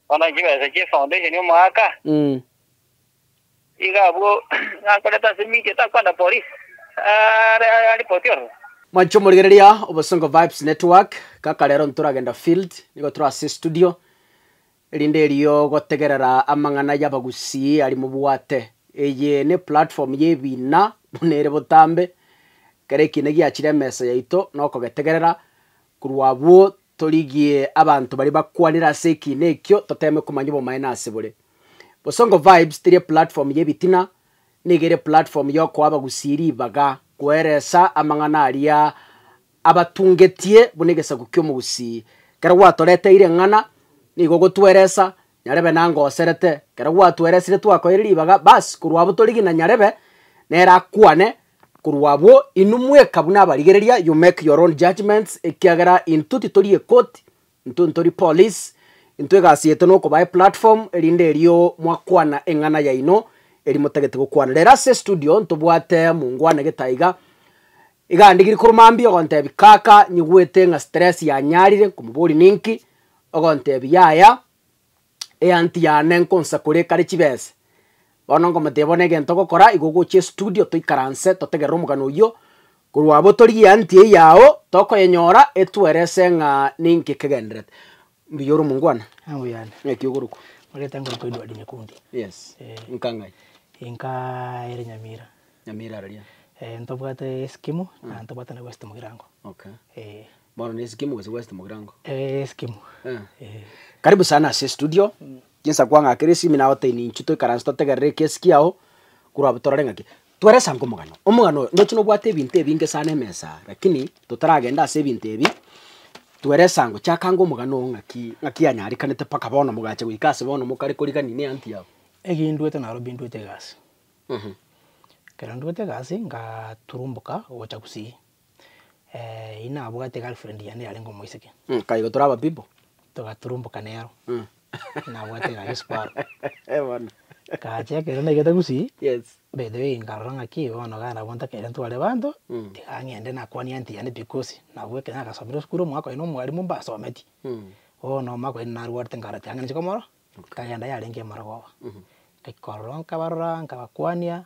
Bono chibesa chie foundation omoaka, iga abwo nakorete ase media takwana police are aripoti ororo. Mwanche omorigereria Obosongo Vibes Network, kaka rero ntoragenda field, nigo tore ase estudio, erinde erio gotegerera amang'ana y'abagusii aria mobwate. Eye neplatform y'ebiina buna ere botambe, kera ekiina giachire emesa yaito nokogetegerera, Korwa abwo, torigie abanto baria bakwanire ase ekiina ekio toteeme komanya obomaene ase bore. Bosongo Vibes teri eplatform y'ebitina, nigo ere eplatform y'okoa abagusii ribaga koeresa amang'ana aria abatungetie buna egesaku ki'omogusii. Kero gwatoreteire eng'ana, nigo ogotweresa, nyarebe nangoserete. Kero gwatweresire twakoeire ribaga, bas korwa abwo torigie na nyarebe nere akwane Korwa abwo, inwe mweka buna abarigereria, you make your own judgments, ekiagera intwe titori ekoti, intwe ntori police, intwe egasi yaito nokobae platform, erinde erio mwakwana eng'ana yaino eri motagete gokwana. Rero ase estudio ntobwate mongwana gete iga, iga andigirie korwa mambia ogontebia kaka nyigwete ng'a stress yanyarire, nkomoboria ninki, ogontebia yaya, Eanty yane nkonsakore ekare chibese. Bono nkomotebia bono egento ogokora igo ogochia estudio toikaranse totegerere omogano oyio korwa abwo torigie eanty eye yao tokoyenyora etwerese ng'a ninki ekegenderete. Mbuya ore omongwana? Eeh mbuya ande. Naki ogorokwa? Omanyete ngorokwa Edward Nyekundi. Yes. Eeh. Nka ng'ai? Nka ere Nyamira. Nyamira araria? Eeh ntobwate Sykimu, na ntobwate na West Mugirango. Okay. Eeh. Bono ne eskimu gose west mogirango? Eh, eskimu. Eh. Eh. Karibu sana ase studio. Chinsa kwang'akera esimi nagoteini inchu toikaranse totegerere eki esiki yao. Korwa abwo torore ng'aki. Tweresa ango omogano. Omogano oyo ndoche nobwate ebinto ebinge sana emesa aa lakini totaragenda ase ebinto ebi. Tweresa ango chaka ango omogano oo ng'aki ng'aki yanyarekanete mpaka bono mogacha goika ase bono mokare korigania ne aunt yao. Eki ndwete naro bi ndwete egasi. Ekero ndwete egasi ngaturumboka gocha gusii. eh, inabwate girlfriend yane yarenge omoiseke. Mm, kai igo tore ababibo. Togaturumboka nero. Mm. Inabwate egari esiparo. Eh, bono. Ngacha ekero naigete gusii, Yes. by the way nkarora ng'a ki bono gana abwo ntakere ntware abanto, Mm. tiga ng'ende nakwanie aunty yane because nabwo ekero nagasomire esukuru omwaka oye na omwarimu mbasometie. Mm. Bono omwaka oye narwarete nkarora tiga ng'ende inche komorora, nkagenda yarenge emorogoba. Mhm. Nkaika ororo nkabarora, nkabakwania,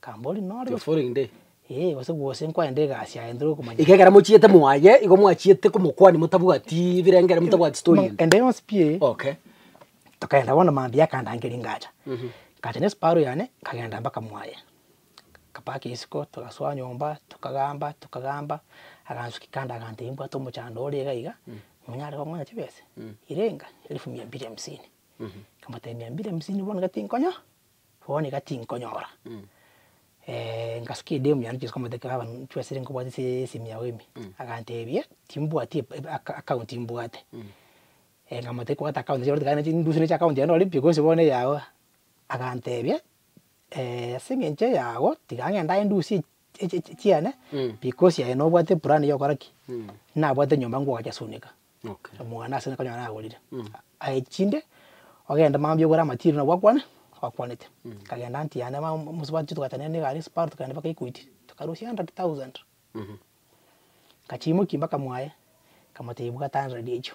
Kambori nore gose Kefore inde. ee, gose gose nkwayende egasi yaye ntore gokomanya. Iga ekero mochiete mwaye, igo mwachiete komokwania motabwati birengeri, motabwati story Mang'a- ende. ende yonsi pi eye. Okay. Tokaenda bono maambia akandangeria ngacha. Ngacha ne spare yane, nkagenda mpaka mwaye. Nkapaka esiko, togasoa nyomba, tokagamba, tokagamba, agansukia kando agantebia mbwate omochando ore iga iga, monyare kong'onya chibese? Irenga, elfu mia mbili hamsini. Nkamotebia mia mbili hamsini bono iga tinkonyaa. Bono iga tinkonyora. Eh, ngasukia edemu yane chionsi nkamotebia baba nchwe esiri nkobwate ase esimi yao ime. Agantebia, timbwati ep- ep- aka- account mbwate. Eh, nkamotebia iko ogate account chiaye bono tiga ndusie account yane nore pi bonsi bono eyao. Agantebia, ase engencho eyao, tiga ngende aye ndusie chiane because aye nobwate plan yokora ki nabwate nyomba ngoacha sunika omwana ase ekero nagorire aye chinde ogende mambia ogore material nabo akwane akwanete nkagenda aunt yane mosubati togachanda ne egari spar tokagenda mpaka equity tokarusia hundred thousand nkachimuki mpaka mwaye nkamotebia bwata hundred echio.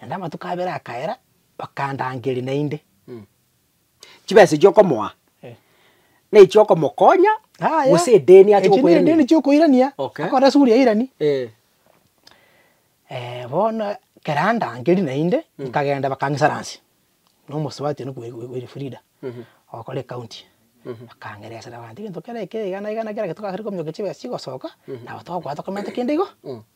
Naende amatuko abere akaera, bakandangeria naende. Chibesa echio okomoa, Eh. nechiokomokonya Yaya. gose edeni ache Echio ne edeni gokoirania? chiokoirania, Okay. akore esuguri yairani. Eh, bono ekero andangeria naende, nkagenda bakang'isaransi, na omosubati one bwe- bwe Elfrida, ogokora ecounty. Bakang'eresera abanto egento kera ekero igana igana kera gento togachire kominyokia chibesa chigosoka, nabo togokoa tokomenta kende igo.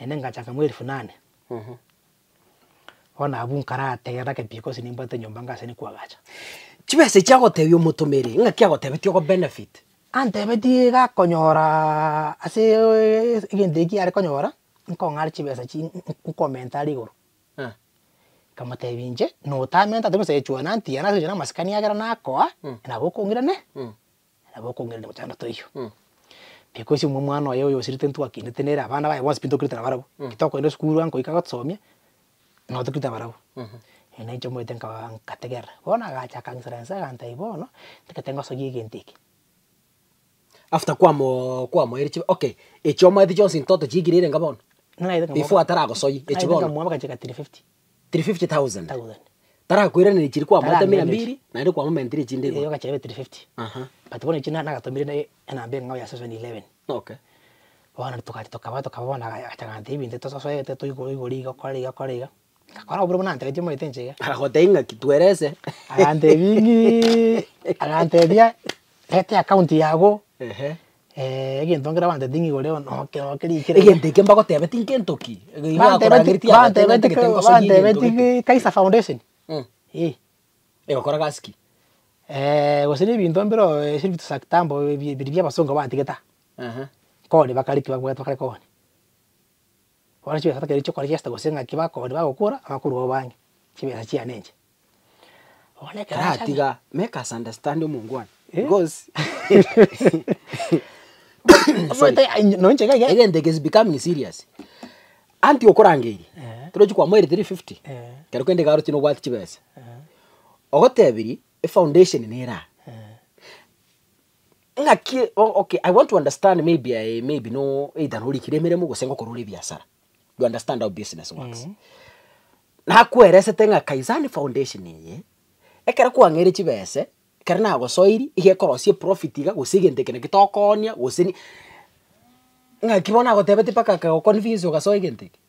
Naende ngachaka mwa elifu nane. Bono abwo nkarategera gake pi gose nimbwate nyomba ng'a ase nikwo agacha. Chibesa echi agotebia omotomeri ng'aki agotebetie ogo benefit? Antebetie iga akonyora ase egento ekio are konyora nkong'are chibesa chi nkomenta are igoro. Nkamotebia inche notamentate gose echuananti yane ase omonto bw'amasikani ekiagera nakoa nabo okong'irane Na nabo okong'erera gocha na toiyo. Because imwe omwana oye oyosirete ntwakinete nere abana baye bonsi pi ntokinete na barabwo. Ki tokoenda esukuru ango goika gotosomia, no tokinete na barabwo. Ere na inche omanyete nkaba nkategerera. Bono agacha akansirensa agantebia bono, ntagete ngosoyie egento eke. After kwamo kwamoeire chibe okay, echi omanyete chionsi ntoto chiaikire ere inga bono? Before ataragosoyia, echi bono? Nkamwabeka chika tiri fifty. 350,000. thousand. Tarakoiraneria chiria kwamoetamire Tarakoiraneria. mbiri, naende kwamomentire chinde Erio igoro. ogachia ebe 350. Aha, But bono echi na- nagatomire ne- enamba eng'ao ya season 11. okay. Bono togachia tokaba tokaba bono aga- agacha agantebia ebinto tososoete toigoro igoro iga okore iga okore iga, ngakora obobe buna antebetie omanyete inche iga. Agagotebia ng'aki twerese. Agantebia ng'ii, agantebia reta eaccount yago, Ehe. Eh, egento nkere bantebeti ng'a igoro eo noke noke rikire. Egento eke mbagotebe tinkento ki. Igo Bantebeti- akoragereti agoteba bantebeti ntagete ko- ngosoria egento bantebeti gete. ki Kaiser Foundation. Mm. Eh. Egokora gasi ki? Eh, gose na ebinto mbire oo ase ebinto sa kitambo ebi- ebiria bia abasongo batigete aa. Aha. Kore bakareti bagoeta bakare kore. Kore chibesa bakere chi'okora chi'esete gose ng'aki bakooria bagokora, abakorua babo bange, chibesa chiane enche. Bono ekero Tara achanda- tiga make us understand omongwana Eh? because Omanyete ai- nonye enchera iga- egento eke is becoming serious anti okorangeirie Eh. torochi kwamoire 350 Eh. kero kende iga oroche nobwate chibesa Eh, ogotebirie efoundation nera eh, Ng'aki okay I want to understand maybe I, maybe no either norikire emeremo gose ngokorora ebiasara. You understand how business works. Mm. Nakweresete ng'a Kaisani Foundation eye ekero kwang'eire chibese ekero nagosoiri iga ekorosia eprofit iga gose egento eke naki tokoonia gose ni ng'aki bono nagotebetie mpaka akagoconvince ogasoa egento eke.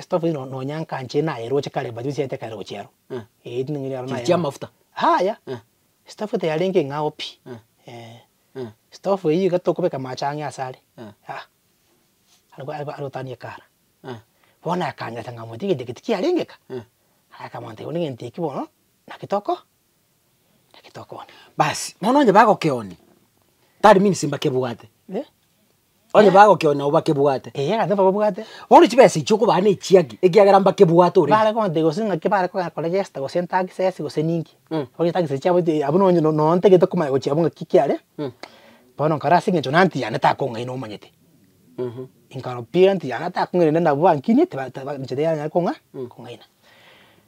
Estofa eye nonya nkanche nayeroche kare but ochiete kare gochia aro. Eeh tindi nkonya aro nayeroche. Chiri chia amafuta. Yaya, estofa tiyarenge eng'ao pi, eeh. Estofa eyio iga tokobeka amache ang'e ase are, ah, are gotania ekara. Bono akanyora ng'a omonto egento eke tikiarenge eka, akamonto onde egento eke bono, naki toko. Naki tokoona. Basi, bono onye bagokeoni, that means mbakebwate, eh? Onye bagokeoni nabo bakebwate. Eeh, egento bababwate. Bono chibesa echi okobaa na echiaki, ekiagera mbakebwate already. Bare konte gose ng'aki bare koba kore register gose entaxes gose ninki, Mm. onye etaxes chiabo ti abwo nonye no- no ntagete komanya gochia abwo ng'aki ki are, Mm. bono nkare ase eng'encho na anti yane takong'aina omanyete, Mhm. inkarwa pi anti yane takong'aina rende nabwo bankinie tiba taba inche tiyanyare kong'a kong'aina.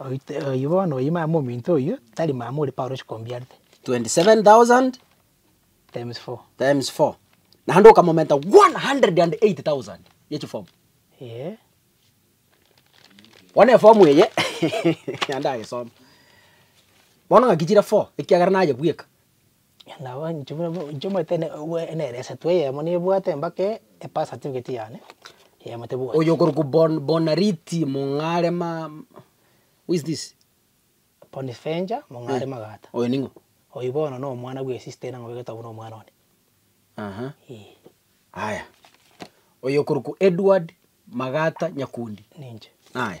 Oite oyio bono oyio mama ominto oyio tari mama ore Paulo chikombiarete. 27,000 Times four. times four. Naende okamomenta 180,000 ye chifomu. Eeh. Bono efomu eye naende agesoma. Bono ng'aki chire four ekiagera nayebweka. Nabo inche buna inche omanyete ne obua enere esato eyemo nebwate embake epass certificate yane, eyemo tebwati. Oyo okorokwa Bon Bonariti Mong'are ma who is this? Bonifenja Mong'are Eh, Magata. oyo ning'o? Oyio bono na omwana bwe sister ere nabwegete obwo na omwana one. Aha, Eeh, aya. Oyo okorokwa Edward Magata Nyakundi. ninche. Aya.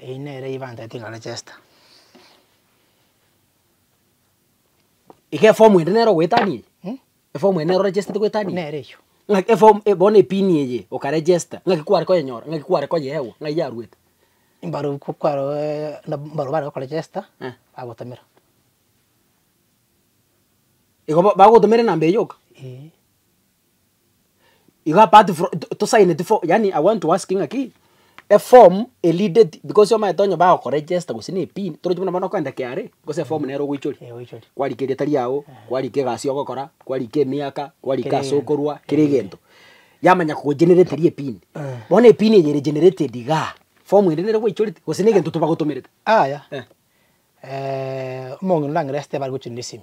Eyio nere ibanta etigare echester. Iga efomu ende nere ogoetania eye? Mh? Efomu ende nere orechestete goetania eye? Nere eyio. Ng'aki efomu e- bono epini eye okaregesta, ng'aki kware koyenyora, ng'aki kware koyeegwa, ng'ai yaruete? Mbarobok ko kwaroeee na mbarobok bare gokoregesta, Eh. bagotomera. Igo ba- bagotomera enamba eye yoka? Eeh. Igo apart from to tosaineti fo yaani I want to ask ng'aki, eform erideti because omanyete onye bagokoregesta gose na epin torochi buna bono okoenda KRA gose eform nere ogoichoria, Eeh oichori. kwarika eriatari yago, kwarika egasi ogokora, kwarika emiaka, kwarika Kera ase egento, okorwa, kera kera egento. egento. Yamanya kogogenereteria epini, Eeh. bono epini eye ere generated igaa, form ende nere gwaichorete gose negento tobagotomerete? Aya, Eh. omong'ina orang'ereste bare gochorire esimi.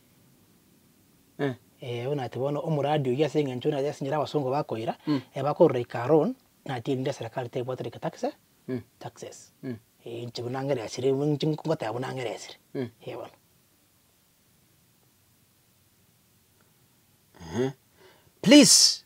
Eh, bono ati bono omoradi oyio ase eng'encho buna ase enchera abasongo bakoira, bakorora ika loan, nati erinde eserekari tebwatire ika taxe, taxes, eh, inche buna ng'ere esire buna inche ngoteba buna ng'ere esire, eh bono. Please.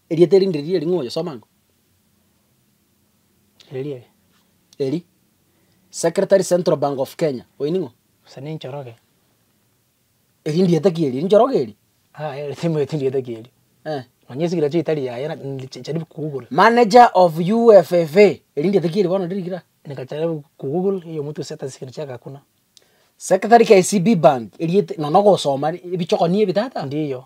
Erieta erinde riria eri ng'a oyosoma ng'a. Eria ere. Eri. Secretary Central Bank of Kenya, oyio ning'o? Gose ne Njoroge. Eri ndieta ki eri? Eri Njoroge eri? Aa eri timanyeti ndieta ki eri. Eh. Nonya esigiri yachio etari yaye na charibu ku Google. Manager of UFFA, eri ndieta ki eri bono ndiri gira? Neka charibu ku Google eyi omotu gose etari sigiri chiaga kuna. Secretary KCB Bank, erieta, nonya ogosoma ebichokoni ebi tata? Ndiyo.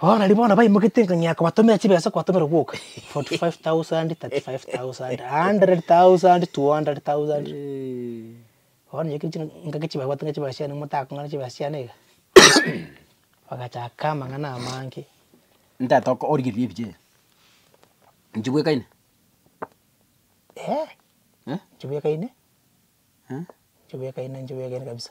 Bono nario bono baimoketie ng'a ng'ina kobatomera chibesa kobatomera gwoka 45,000, 35,000, 100,000, 200,000. Bono inche kechire ngaki chibabwate ng'a chibesa chiane motakong'ana chibesa chiane iga bagachaka amang'ana amange. Ntata oko origereria ebiche iga, inche bwekaine? Inche bwekaine? Inche bwekaine inche bwekaine kabisa.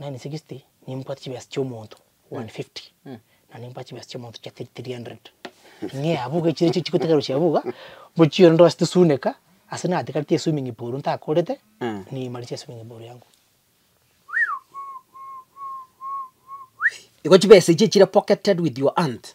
Nani sixty nimbwate chibesa chi'omonto one fifty na nimbwate chibesa chi'omonto chia three hundred. Ng'ea abwo iga echirecho chigotaka gochia abwo iga, mbochire onde ase tosuneka ase natigareti eswimming pool ntakorete niimaretie eswimming pool yango. Igo chibesa echi echire pocketed with your hand.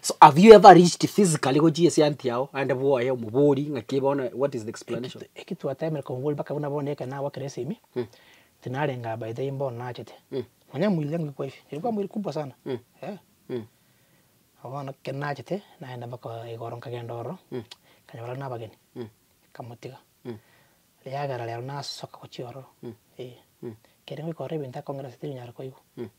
So have you ever reached physically gochia esianti yao aende bwoye omobori ng'aki bono what is the explanation? Eki- eki twatemire komobori mpaka buna bono ekero nagokire esimi Mm. tinarenga by the way mbono nachete Mm. nonya mwirire ngokigwa hivi nilikuwa mwili kubwa sana Mm. eh Mm. Nabo bono ekero nachete nagenda mpaka igoro nkagenda ororo Mm. nkanyora na abageni Mm. nkamotiga Mm. riagera rero nasoka gochia ororo Mm. eh Mm. ekero ngoika ororo ebinto akong'ira ase terinyara koigwa. Mm.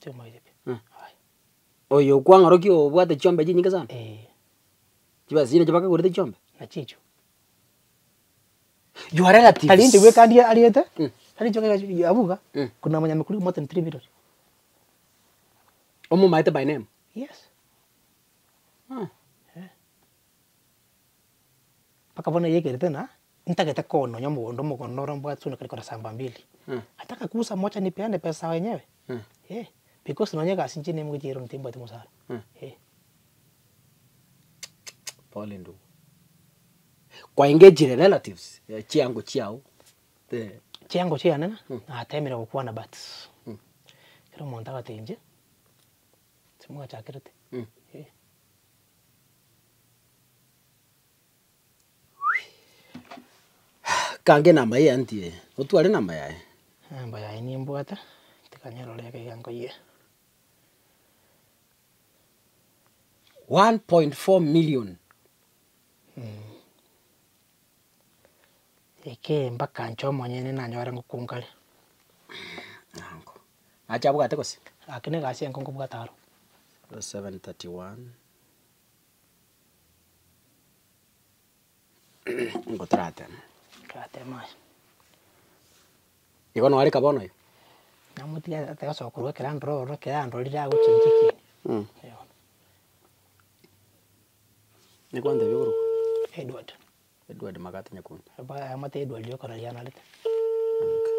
Chiamaire pi, Eh. aya. Oyo okwang'orokia obwate chiombe chinyinge sana? Eeh. Chibesa chiria nacho bakagorete chiombe? Nachichio. Your relatives. Tari inche bweka ndie ariete, Mm. tari inche bweka chi- abwo iga, Mm. kuna monyamekuri more than three million. Omomaete by name? Yes. Ah. Eh. Mpaka bono yaekerete ng'a ntagete kononya omogondo omogondo ore mbwate soni kare kore samba mbili. Ata akakusa mocha nipeane pesa yao enyewe, eh, because nonya egasi inche nigo nchiire rundi timbwati mosara. Pole ndugu. Kwaengagire relatives chiango chiao? Chiango chiane natemire gokwana but kera omonto agateba inche, timochakerete. Kang'e namba eye antie, otware namba yaye. Namba yaye nimbwate, tiga nyerore ekeiga nkoyia. One point four million. Ekee mpaka nche omonyene nanyore ngokunga are. Nango. Nache abwate gose? Gaki negasi enke nkobwata aro. Verse 7, 31 Nigo torateme. Torateme aye. Igo noareka bono oyo? Namotige ase gosoka korwa ekero andora ororo ekero andorire agochinchia ekieni. Mh. Eh, bono. Nekwantebia igoro okwo? Edward. Edward Magato Nyakundi. Abwate Edward okona rianarete. Okay.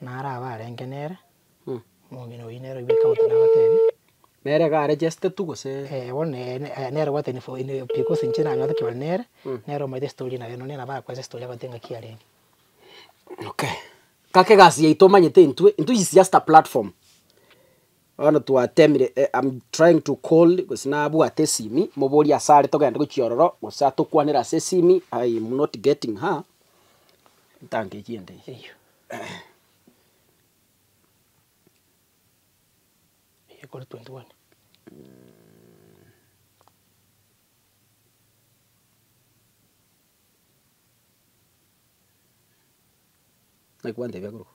Naro abarenge nere, Mm. omong'ina oyio nere oibwete amate nabatebia, Nere iga arejeste tu gose? Eh, bono ne- ne- eh, nere obwate info ine because inche nang'anete kebare nere, Mm. nere omanyete estory naye, nonye nabo akwesa estory agote ng'aki arenge. Okay. Gaka egasi yaito omanyete intwe, intwe is just a platform. Bono twatemire eh, I'm trying to call, gose nabwate esimi, moborie ase are togende gochia ororo, gose atokwanere ase esimi, I'm not getting her, ntanke ki ende eye? Eyio. Eyio ekore 21. Naigwante ebiakorokwa.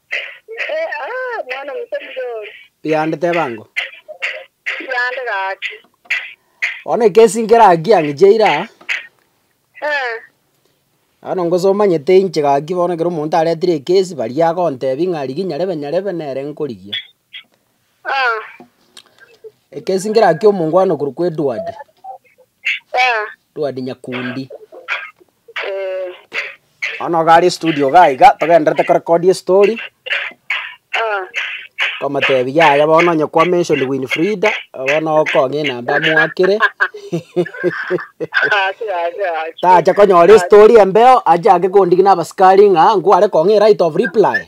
Mwana omuto mudori. Yande teba ango. Yande gaki. Bono ekesi nkere akia ngiche ira. Eh. Bono ngoso omanyete inche gaki bono ekero omonto aretire ekesi baria agontebia ng'a rigia nyarebe nyarebe nere nkorigia. Ekesingera ki omongwana korwa kwa Edward. Edward Nyakundi. Bono iga are studio iga iga togenderete korecord estory. Nkomotebia yaya bono onye kwa mention Winfrida bono okong'a enamba amoakere. Tacha konyora estory embeo ache ake kondigia na abasikari ng'a nkware kong'a eright of reply.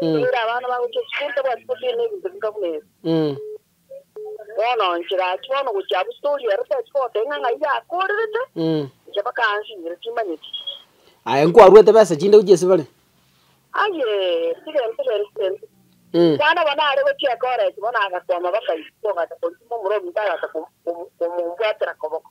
Toira abana bagochia esukuru, tabwati gosiria nebinto bionka buna ebi. Bono nchire aachia bono gochia abwo story ero tari koteba ng'a ng'ai yakorerete, inche mpaka ansinyire timanyeti. Aye nkwaruete besa chinde gochia ase bare? Aye, tigenti genti genti. Mwana bono are gochia ekoreti bono agakwama bakaibisa ogata korikwa omorobinto agata komu- komu- komombwatera koboko.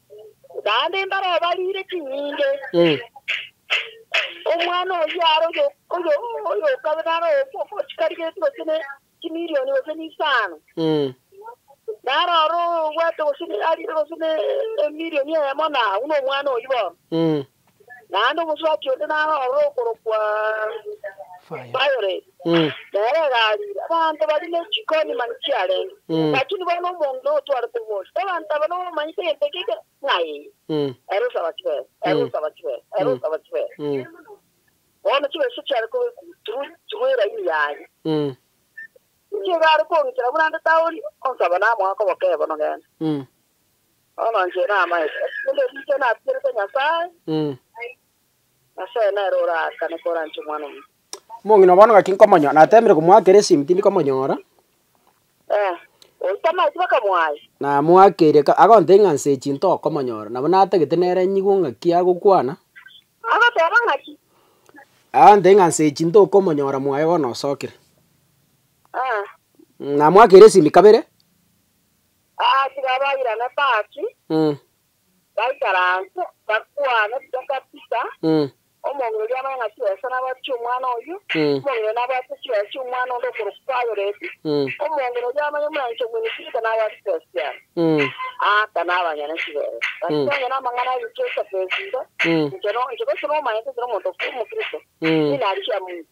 Naende mbarobarire ching'inge. Omwana oyio are oyo- oyo- oyokabe naro omochikari gete gose ne chimilioni gose ne isano, naro ore obwate gose ne- arire gose ne emilioni eyemo na abwo nomwana oyio bono. Naende omosubati onde narorire okorokwa Violet, nere egariire. Abanto baria ne chikoni mani chiarenge, lakini bono omong'ina otwarete obosie. Abanto aba nobamanyete egento ekia ekero ng'ai ere osaba chibesa, ere osaba chibesa, ere osaba chibesa. Bono chibesa chiare koba ekurutigwe eraini yaye. Inche iga are koong'itera buna nde taoni, onsaba namoa koboke bono genda. Omonto namaete erinde riicho natigerete Nyasae, Nyasae nere oraakane koranche Omwana-o-monto. Omong'ina bono gaki nkomonyora, nateemire komoakera esimu tindi komonyora. Ee, oyio tamaeti bakamoaya. Namoakeire ka agontebia ng'a nse echi ntokomonyora, nabo natagete nere nyigwe ng'aki agokwana. Agoteba ng'aki? Agontebia ng'a nse echi ntokomonyora mwaye bono osokire. Ee. Namoakeire esimi kabere. Aa tiga bairane Paki, baikare anse, bakwane Peka Pita, Omong'ina oria amanye ng'a chibesa nabwate chi'omwana oyio, omong'ina oyo nabwate chibesa chi'omwana onde okorokwa Payoreti, omong'ina oria amanye omwancha omwene Pita nabwate chibesa chiane. Aaka nabanyene chibesa, gati onye namang'ana abichire chibesa iga, inche no, inche gose nomanyete inche nomonto okw'omokristo, ninarigia Musa.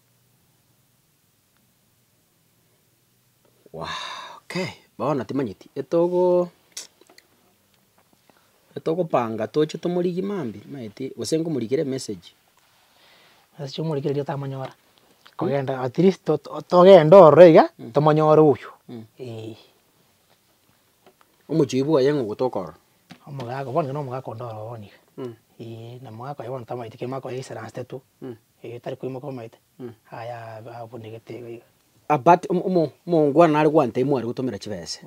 Okay, bono timanyeti etogo etogopanga toche tomorigie mambi timanyeti gose ngomorikere emessage. Message omorikere erio tamonyora, kogenda at least to- to- togende ororo iga tomonyore oywo eh. Omochiu bwaye ng'a ogotoka ororo. Omogaka bono nyowe na omogaka onde ororo bono iga eh, na omogaka oyo bono tamanyeti kere mokoyaisaranste tu. Ee, tari koimoka bamaete, aye a- abunegete iga iga. Abate omo- omo- omoongwana nare gwanta ime are gotomera chibese,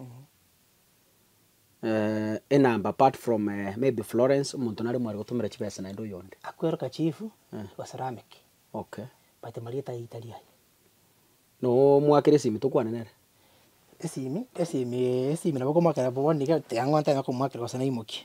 enamba apart from maybe Florence, omonto nare ime are gotomera chibese naende oyonde. Akweroka chief, Eh. basalameke, Okay. but marieta aye tari aye. Noo mwakera esimi tokwane nere? Esimi, esimi, esimi nabo okomoakera bono iga, tiang'ontana nokomwakera gose naimokie.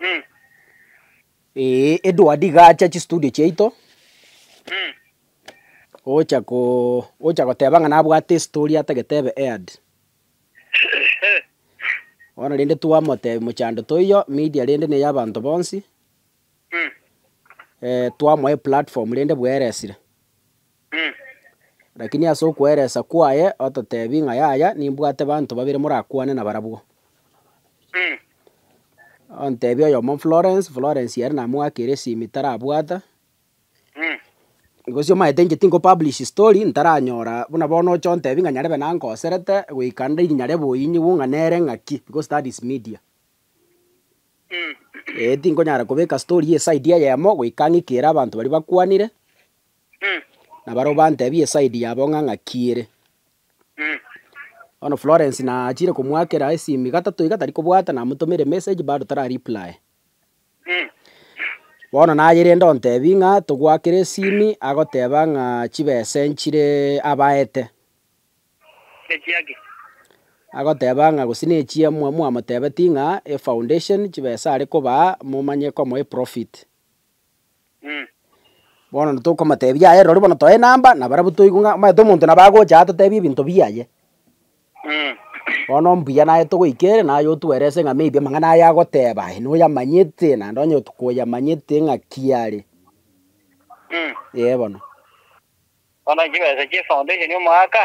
Mm. Ee, Edward iga acha chistudio chiaito, Mm. ocha ko ocha goteba ng'a nabwate estory atagete ebe aired. Eh. Bono rende twamotebia mochando toiyo, media rende neya abanto bonsi, Mm. eh, twamoa eplatform rende bweresire. Lakini ase okweeresa kwaye ototebi ng'a yaya nimbwate banto babere morakwane nabarabwo. Ontebia oyomo Florence, Florence ere namoakire esimu tarabwata. Gose omanyete inche tinko publish story ntaranyora buna bono oche ontebi ng'a nyarebe nankoserete goika nde iri nyarebe oinyigwe ng'a nere ng'aki because that is media. Eeh tinkonyara kobeka story eye side eyemo goika ng'ikere abanto baria bakwanire. nabarabwo bantebie eside yabo ng'a ng'aki ere. Bono Florence nachire komoakera esimi gatato iga tari kobwata namotomera emessage bado tara reply. Bono nayerende ontebie ng'a togoakere esimi agoteba ng'a chibesa nchire abaete. Agoteba ng'a gose nechie mwa mwamotebetie ng'a efoundation chibesa arekobaa momanye komoa eprofit. Bono ntokomoteebia aye, rirorio bono toe enamba nabarabwo toigwe ng'a omanyete omonto nabo agocha aa totebie ebinto biaye. Bono mbuya naye togoika ere naye otwerese ng'a maybe amang'ana aya agoteeba aye noyamanyete naende onye koyamanyete ng'aki are. Ee bono. Bono chibesa chie foundation omoaka.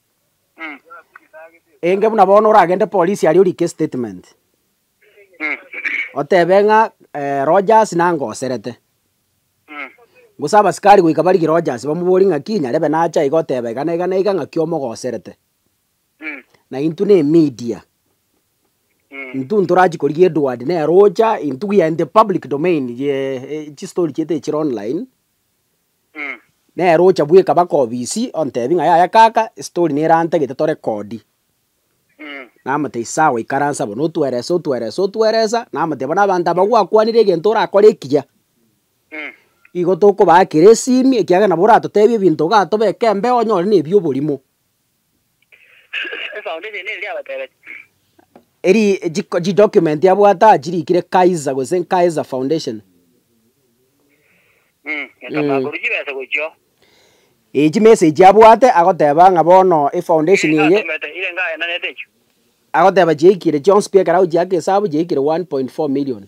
Enge buna bono oragende polisi aria orike statement, otebe ng'a Rogers nangoserete, gose abasikari goika barigie Rogers bamoborie ng'aki nyarebe nache iga otebe iga na iga na iga ng'aki omogoserete, na intwe na emedia, intwe ntorachie korigia Edward nere ocha, intwe we are in the public domain ye chistori chiaito echire online, Nere ocha bweka baka obisi ontebi ng'a yaya kaka estory nera ntagete to record. Namotebi sawa ikaransa abwo notwerese otwerese otweresa namotebi bono abanto aba gwakwanire egento orakore ekiya igo tokobaa kera esimi ekiagera nabo oratotebi ebinto iga tobeke embeo onyore nebi oborimo. Esaonda eye neri riabatebete? Eri chi chi document abwate aa chirikire Kaiser gose Kaiser Foundation. Mm, Nyasae Mm. takorwa chibesa gochio. Eyi chimessage abwate agoteba ng'a bono efoundation Ere eye ngatomete, ere ngaenanete echio. agoteba chiaikire chionsi pi ekerau chiake esabu chiaikire 1.4 million.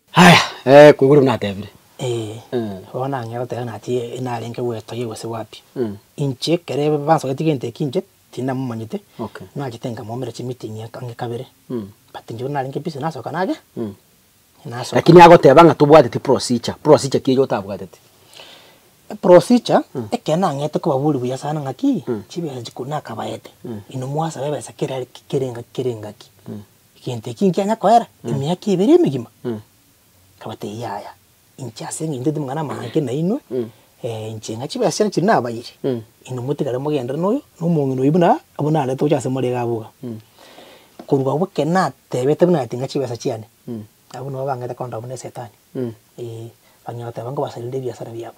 Aya, ee, koigwa riu natebire. Ee, bono nang'ea goteba nati narenge gwetogia gose gwapi. Inche ekero ebe bansoreti gento eki inche tinamomanyete, Okay. nachete nkamoumera chimeeting eke ang'e kabere, but inche buna narenge busy nasoka nage, nasoka. Lakini agoteba ng'a tobwateti procedure, procedure ki eyio otabwateti? Procedure, ekero nang'ete kobaboria buya sana ng'aki, chibesa chikoro nakabaete, inwe mwasabe ebesa kera kera engaki kera engaki, Egento eki nkianya koera emiaka ebere emegima? Akabatebia, Yaya, inche ase engencho ntaete amang'ana amange nainwe, inche ng'a chibesera chiria nabayire, inwe motigare mogenderere noyo, na omong'ina oyio buna abwo narete gocha ase more iga abwo iga. Korwa abwo ekero natebete buna ati ng'a chibesa chiane, abwo nabo bang'aete korenda abwo na esetani, ee, bang'ina goteba ngobasarerire ebiasara biabo.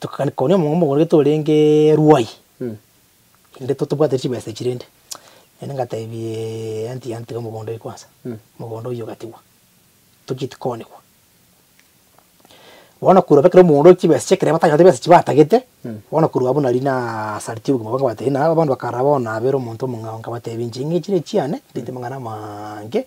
Tokakania omong'ina omogorokia torenge Ruai, inde totobwate chibesa echi rende. Naende ngatebia eeh aunty yane tiga omogondo oye kwansa, omogondo oyio ogatigwa, tochia tikoonigwa. Bono korwa bakire omogondo oyio chibesa chia ekero batanyarete chibesa echio batagete, bono korwa abwo nari nasaritie obogima bwange nabatebia ng'a abande bakarara bono nabere omonto omong'ao, ngabatebia inche ng'a echi nechiane, ndeete amang'ana amaange,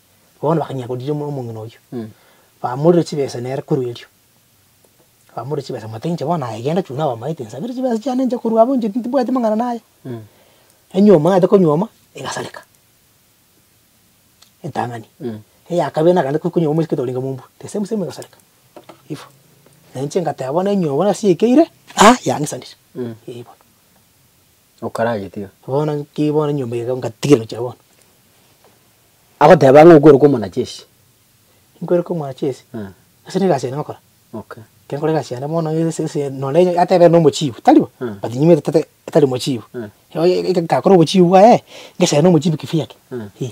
Bono bakanyia koriria omong'ina oyio, bamorera chibesa nere korwa erio. Bamorera chibesa bamotebia inche bono aye genda chunaa abamaete nsabere chibesa chiane nche korwa abwo inche tibwati mang'ana naye. Enywe omanyete konyuoma egasareka entang'ani, eya kabere nagende konyuoma omosike toringa mombua the same same egasareka ivo. Nainche ngateba bono enywe bono ase ekeire, ah yang'isanire, eh bono. Okaragetiga. Bono nki bono nyomba eye iga ngatigire gochia bono? Agoteba ng'a okweruka omwanacheshi. Nkweruka omwanacheshi? Eh. Ase negasi yane ngokora. Okay. Kenkore egasi yane bono ase ase nonye onye atebe nere nomochibu, tari bo? Eh. But nyimete tata tari mochibu. Eh. Oye eke nkakora obochibu bwaye, ngesena omochibi kifiaki? Eh. Ih.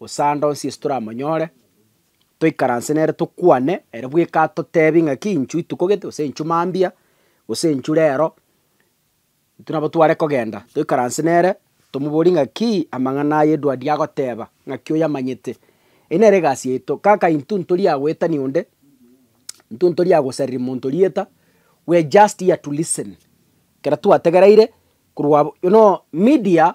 Gose ande onsi Yeso toramonyore, toikaranse nere tokwane, ere bweka atotebi ng'aki inchu rituko gete, gose inchu mambia, gose inchu rero, intwe nabo tware kogenda toikaranse nere, tomoborie ng'aki amang'ana aya edwua eria agoteba, ng'aki oyamanyete. Eyio nere egasi yaito, kaka intwe ntori aa goetani onde, intwe ntori aa gosariri monto rieta, we are just here to listen, ekero twategereire korwa abo, you know media.